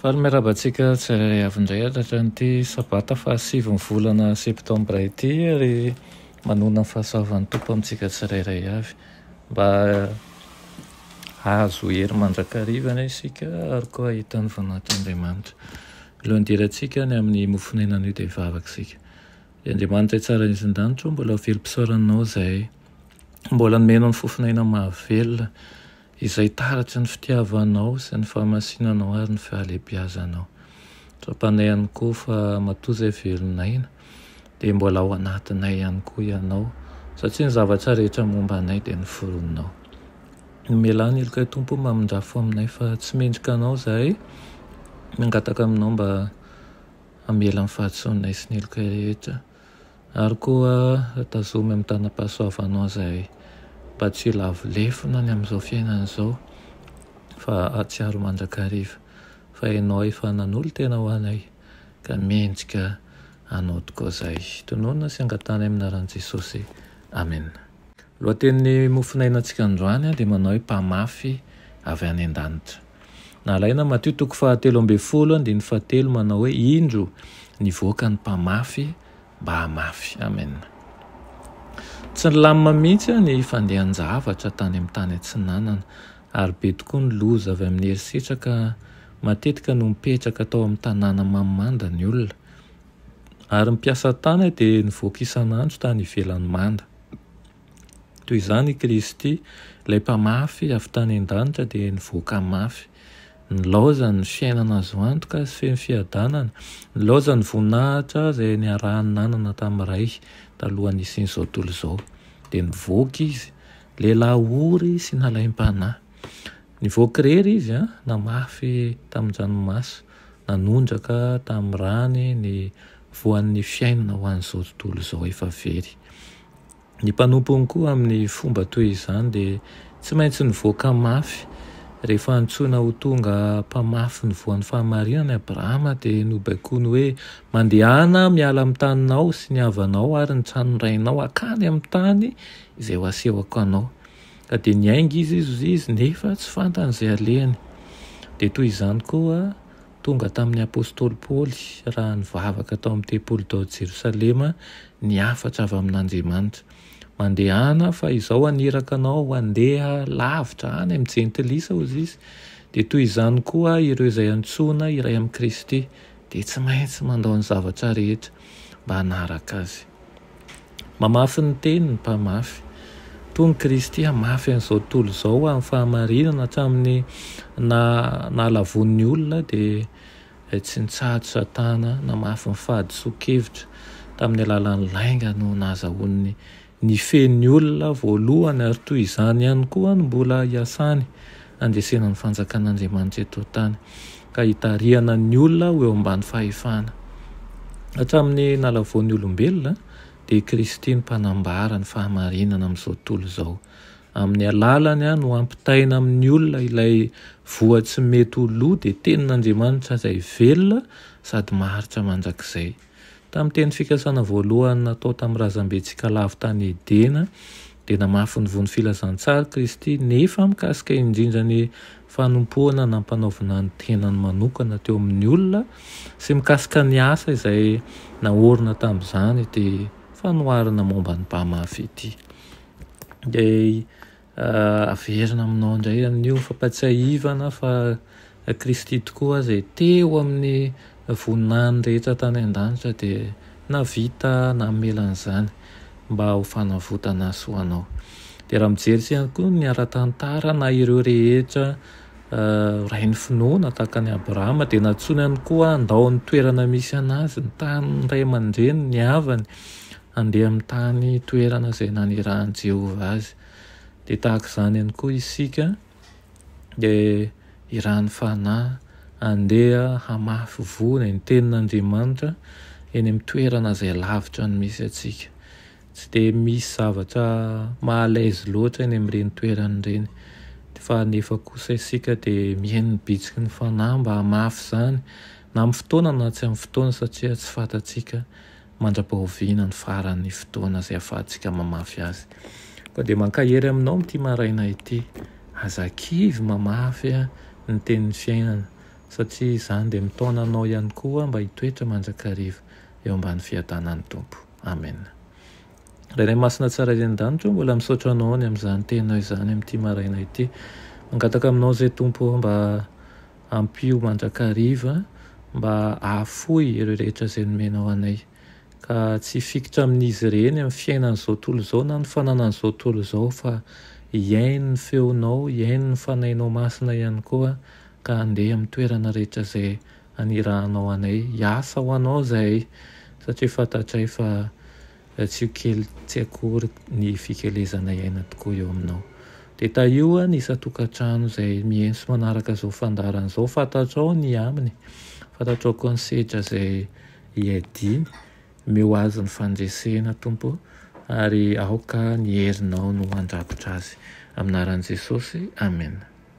Faly miarahaba antsika tsirairay avy indray hatratr'ity sabata faha sivy ny volana septambra ity ary manona ny fahasoavan'ny Tompo amintsika tsirairay avy mba hahazo hery mandrakariva anie isika ary koa hahita ny voninahitr'Andriamanitra. Alohan'ny hidirantsika any amin'ny mofon'aina anio dia hivavaka isika. Ry Andriamanitra tsara indrindra an-danitra ô, mbola velom-pisaoranao izay mbola nomenao ny fofon'aina mahavelona, Izay taratry ny fitiavanao sy ny fahamasinanao ary ny fahalebiazanao. Tsapanay ihany koa fa matoa izay velon'aina dia mbola ao anatinay ihany koa ianao satria ny zavatra rehetra momba anay dia noforoninao. Nomelan'ny helokay Tompo mamindrafo aminay fa tsy mendrika anao izahay, mangataka aminao mba hamela ny fahadisoanay sy ny helokay rehetra. Ary koa tazomy amin'ny tanam-pahasoavanao izay mba tsy ho lavo lefona ny amin'izao fiainana izao, fa hahatsiaro mandrakariva fa Ianao efa nanolo-tena ho anay, ka mendrika Anao tokoa izay. Tononina sy angatahana amin'ny anaran'i Jesosy. Amena. Lohatenin'ny mofon'ainantsika androany dia manao hoe Mpamafy avy any an-danitra. Nalaina Matio toko fahatelo ambin'ny folo andininy fahatelo manao hoe indro nivoaka ny mpamafy mba hamafy. Amen. Tsy nilamina mihitsy ny fandehan-javatra tany amin'ny tany atsinanana ary be tokoa ny loza avy amin'ny herisetraka matetika no mipetraka tao amin'ny tanàna mamimanda ny olona ary ny mpiasa tany dia nivoaka isan'andro tany ivelany manda. Toy izany i Kristy, ilay Mpamafy avy tany an-danitra dia nivoaka mafy. Nilaozany ny fiainana azo antoka sy feno fiadanana, nilaozany ny voninahitra izay niarahany nanana tamin'ny Ray talohan'ny hisian'izao tontolo izao. Dia nivoaka Izy, lehilahy ory sy nalaim-panahy. Nivoaka irery Izy, namafy tamin-dranomaso, nanondraka tamin'ny rany ny voan'ny fiainana ho an'izao tontolo izao efa very. Ny mpanompony koa amin'ny fomba toy izany dia tsy maintsy nivoaka mafy. Rehefa antsoina ho tonga mpamafy ny voan'ny fahamarinana i Abrahama dia nobaikoiny hoe, Mandehana aho miala amin'ny taninao sy ny havanao ary ny tranon'ny rainao hankany amin'ny tany izay ho asehoko anao. Ka dia niainga izy izy nefa tsy fantany izay alehany. Dia toy izany koa. Tonga tamin'ny apostoly Paoly raha nivavaka tao amin'ny tempoly tao Jerosalema ny hafatra avy amin'Andriamanitra. Mandehana fa izao haniraka anao handeha lavitra any amin'ny jentilisa hozy izy. Dia toy izany koa ireo izay antsoina iray amin'i Kristy dia tsy maintsy mandao ny zavatra rehetra. mba hanaraka Azy. Mamafy ny Teniny ny Mpamafy. Tony Kristy hamafy an'izao tontolo izao ho amin'ny fahamarinana hatramin'ny naha, nahalavoan'ny olona dia tsy nitsahatra Satana namafy ny fahadisoan-kevitra tamin'ny alalan'ny lainga no nahazahoan'ny Nifehy ny olona voalohany ary toy izany ihany koa no mbola hiasany handresena ny fanjakan'Andriamanitra eto an-tany ka hitarihana ny olona ho eo ambany fahefana. Hatramin'ny nalavoan'ny olombelona dia i Kristy no mpanambara ny fahamarinana amin'izao tontolo izao. Amin'ny alalany no ampitaina amin'ny olona ilay voa tsy mety ho lo dia tenin'Andriamanitra izay velona sady maharitra mandrakizay. Tamin'ny teny fikasana voalohany natao tamin'ny razambe Tsikalavo tany Edena, dia namafy ny vono filazantsara Kristy, nefa mikasika indrindra ny fanompoana nampanaovina ny tenany manokana teo amin'ny olona sy mikasika ny asa izay naorina tamin'izany ity fanoharana momba ny mpamafy ity. Dia Averina aminao indray amin'io fampatsiahivana fa Kristy tokoa izay teo amin'ny voninahiny rehetra tany an-danitra dia nahavita namela an'izany mba ho fanavotana sy ho anao. Dia raha mijery sy ihany koa ny ara-tantara na ireo rehetra rain'ny finoana tahaka an'i Abrahama dia nantsoiny ihany koa handao ny toerana misy an'azy, ny taniny, ny ray aman-dreniny, ny havany handeha amin'ny tany toerana izay nanirahan'i Jehovah azy. Dia tahaka izany ihany koa isika, dia irahan'ny fanahy handeha hamafy voa ny tenin'Andriamanitra eny amin'ny toerana izay lavitra ny misy antsika. Tsy dia misy zavatra maha à l'aise loatra eny amin'ireny toerana ireny, fa nefa kosa isika dia mihaino ny bitsiky ny fanahy mba hamafy izany, na amin'ny fotoana na tsy amin'ny fotoana, satria tsy fantatsika mandra-pahoviana ny faran'ny fotoana izay ahafahantsika mamafy azy. Koa dia mankahery aminao amin'ity maraina ity. Aza kivy mamafy ny tenin'ny fiainana, satria izany dia mitaona anao ihany koa mba hitoetra mandrakariva eo ambany fiadanan'ny Tompo. Amena. Ray Ray Masina Tsara eny an-danitra ô, mbola misaotra Anao ny amin'izany teninao izany amin'ity maraina ity. Mangataka aminao izay Tompo ô, mba Ampio mandrakariva mba hahafoy ireo rehetra izay nomenao anay, ka tsy hifikitra amin'izy ireny amin'ny fiainan'izao tontolo izao na ny fananan'izao tontolo izao fa hihaino ny feonao, hihaino ny Fanahinao Masina ihany koa ka handeha amin'ny toerana rehetra izay anirahanao anay, hiasa ho anao izahay satria fantatray fa Ratsio kely tsy akory ny fikelezana iaina tokoa eo aminao. Dia tahio ny isan-tokantrano izay mientso manaraka izao fandaharana izao. Fantatrao ny aminy, fantatrao koa ny sedra izay iadiany. Omeo azy ny fandresena Tompo o, ary aoka ny herinao no handrakotra azy. Amin'ny anaran'i Jesosy, Amena.